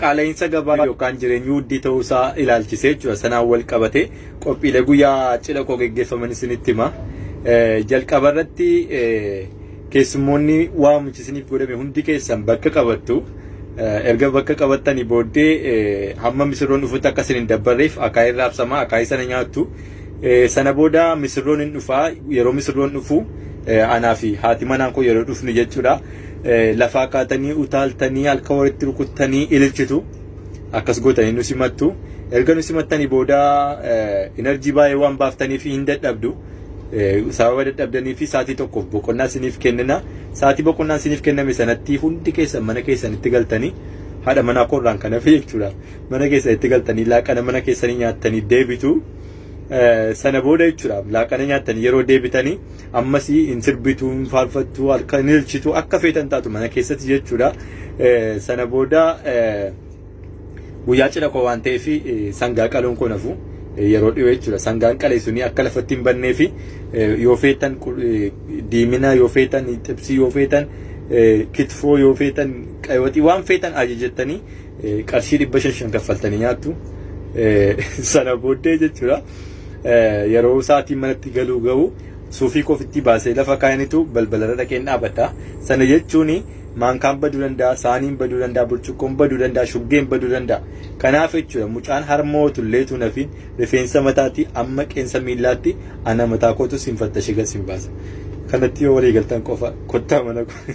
Qaala'insa gabaa yookaan jireenyi wuddii ta'uu isaa ilaalchisee jechuudha. Sanaan wal qabatee qophiilee guyyaa cidha koo geggeeffaman isinitti hima. Jalqaba irratti keessummoonni waamichi isiniif godhame hundi keessan bakka qabattu. Erga bakka qabattanii booddee hamma misirroon dhufutti akka isin hin dabbarreef akaayii irraa absamaa akaayii sana nyaattu. Sana booda misirroon hin dhufaa yeroo misirroon dhufu anaa fi haati manaan koo yeroo dhufnu jechuudha. lafaa kaatanii utaaltanii halka walitti rukuttanii ililchitu akkas gootanii nu simattu erga nu simattanii booda enerjii baay'ee waan baaftaniif hin dadhabdu sababa dadhabdanii fi saatii tokkoof boqonnaa isiniif kennina saatii boqonnaan isiniif kenname sanatti hundi keessan mana keessanitti galtanii haadha manaa koorraan kan hafe jechuudha mana keessanitti galtanii laaqana mana keessanii nyaattanii deebitu sana booda jechuudha laaqana nyaattanii yeroo deebitanii ammas hin sirbitu hin faarfattu harka hin ilchitu akka feetan taatu mana keessatti jechuudha sana booda guyyaa cidha koo waan ta'eef sangaa qaluun koo nafu yeroo dhiyoo jechuudha sangaan qalee suni akka lafatti hin bannee fi yoo feetan diimina yoo feetan xibsii yoo feetan kitfoo yoo feetan qayyootii waan feetan ajajattanii qarshii dhibba shan shan kaffaltanii nyaattu sana booddee jechuudha. yeroo sa'aatiin manatti galuu ga'u suufii koofittii baasee lafa kaayanitu balbalarra dhaqeen dhaabadha. Sana jechuun maankaan baduu danda'a, saaniin baduu danda'a, burcuqqoon baduu danda'a, shuggeen baduu danda'a. Kanaaf jechuudha mucaan harmoo tullee tuunafiin rifeensa mataatti amma qeensa miillaatti ana mataa kootu siin fattashe gad siin baasa. Kanatti yoo walii galtan qofa kottaa mana koo.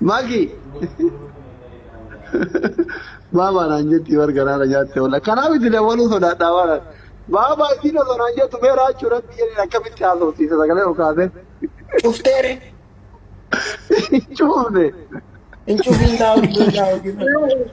Maki. Baabaa naan jetti bar garaara nyaatte wala. Kanaaf itti dawwaluu sodaadhaa waan. Baabaa isiin osoo naan jettu mee raachuu rabbi jedheen akkamitti haasofsiisa sagalee ol kaasee. Cufteere. Cuufne. Hin cufiin taa hojii hojii hojii.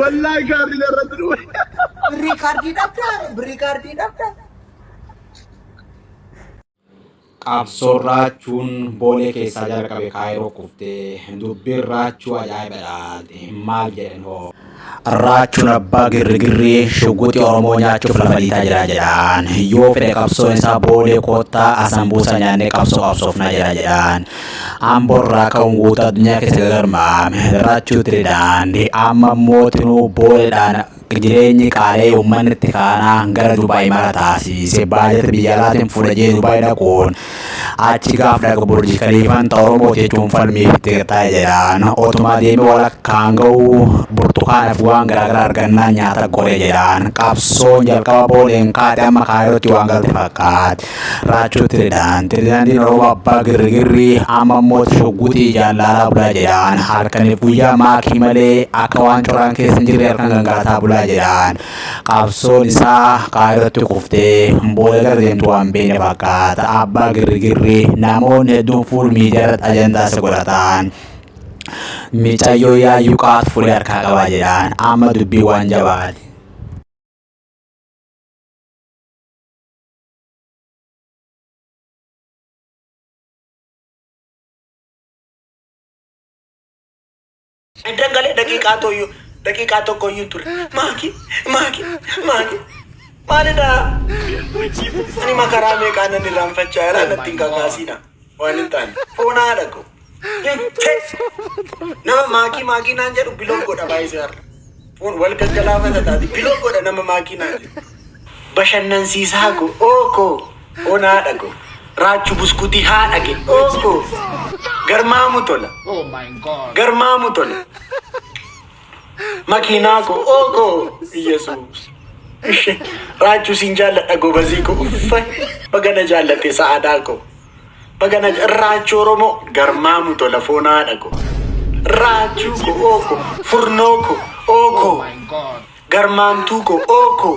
Wallaahi kaardiin irratti dhufe. Birrii kaardii dhabdaa? Birrii kaardii dhabdaa? Qabsoon raachuun boolee keessaa jalqabe kaayiroo kuftee dubbiin raachuu ajaa'ibadha maal jedhan hoo. Raachuun abbaa girrigirrii shugguxii Oromoo nyaachuuf lafa dhiitaa jira jedhaan. Yoo fedhe qabsoon isaa boolee koottaa asan buusa nyaannee qabsoo qabsoofnaa jira jedhaan. Amborraa ka'uun guutuu addunyaa keessa gagarmaame raachuu ture daandii amma immoo tinuu booleedhaan jireenyi qaalee uummanni itti kaanaan gara Dubaay mara taasiise baajata biyya alaatiin fudhajee Dubaay dhaquun achi gaaf dhaqa burji kaliifan ta'u Oromoo jechuun falmiif itti qixxaa'e jedhaan otumaa deemee walakkaan ga'uu burtukaanaaf waan garaagaraa argannaan nyaata goree jedhaan qabsoon jalqaba booleen kaate amma kaayootti waan galte fakkaate. Raachoo Tiridaan Tiridaandiin Oromoo abbaa girrigirrii amma immoo shugguxii jaalaalaa bulaa jedhaan halkaniif guyyaa maakii malee akka waan coraan keessa hin jirre halkan gangalataa bulaa jedhaan qabsoon isaa kaayirratti kuftee booda gara deemtu waan beekne fakkaata abbaa girrigirrii namoonni hedduun fuul miidiyaarratti ajandaa isa godhataan. Micayyoo yaayyuu qaatu fulee harkaa qabaa jedhaan amma dubbii waan jabaati. Eddan galee daqiiqaa tooyyuu daqiiqaa tokko iyyuu hin ture. Maaki maaki maaki maalidha? Ani makaraa meeqaa nan irraanfachaa irraa natti hin kakaasiidha. Waan hin taane. Foon haadha koo. Hin teessu. Nama maakii maakii naan jedhu biloog godha baay'isee har'a. Foon wal gaggalaafata taate biloog godha nama maakii naan jedhu. Bashannansiisaa koo. Oo koo. Foon haadha koo. Raachu buskutii haadha kee. Oo koo. Garmaamu tola. Garmaamu tola. Makiinaa koo ookoo Iyyasuus. Ishi raachuu siin jaalladha gobazii koo uffa baga na jaallatte sa'aadaa koo baga na ja- raachuu oromoo garmaamu tola foon haadha koo raachuu koo ookoo furnoo koo ookoo garmaamtuu koo ookoo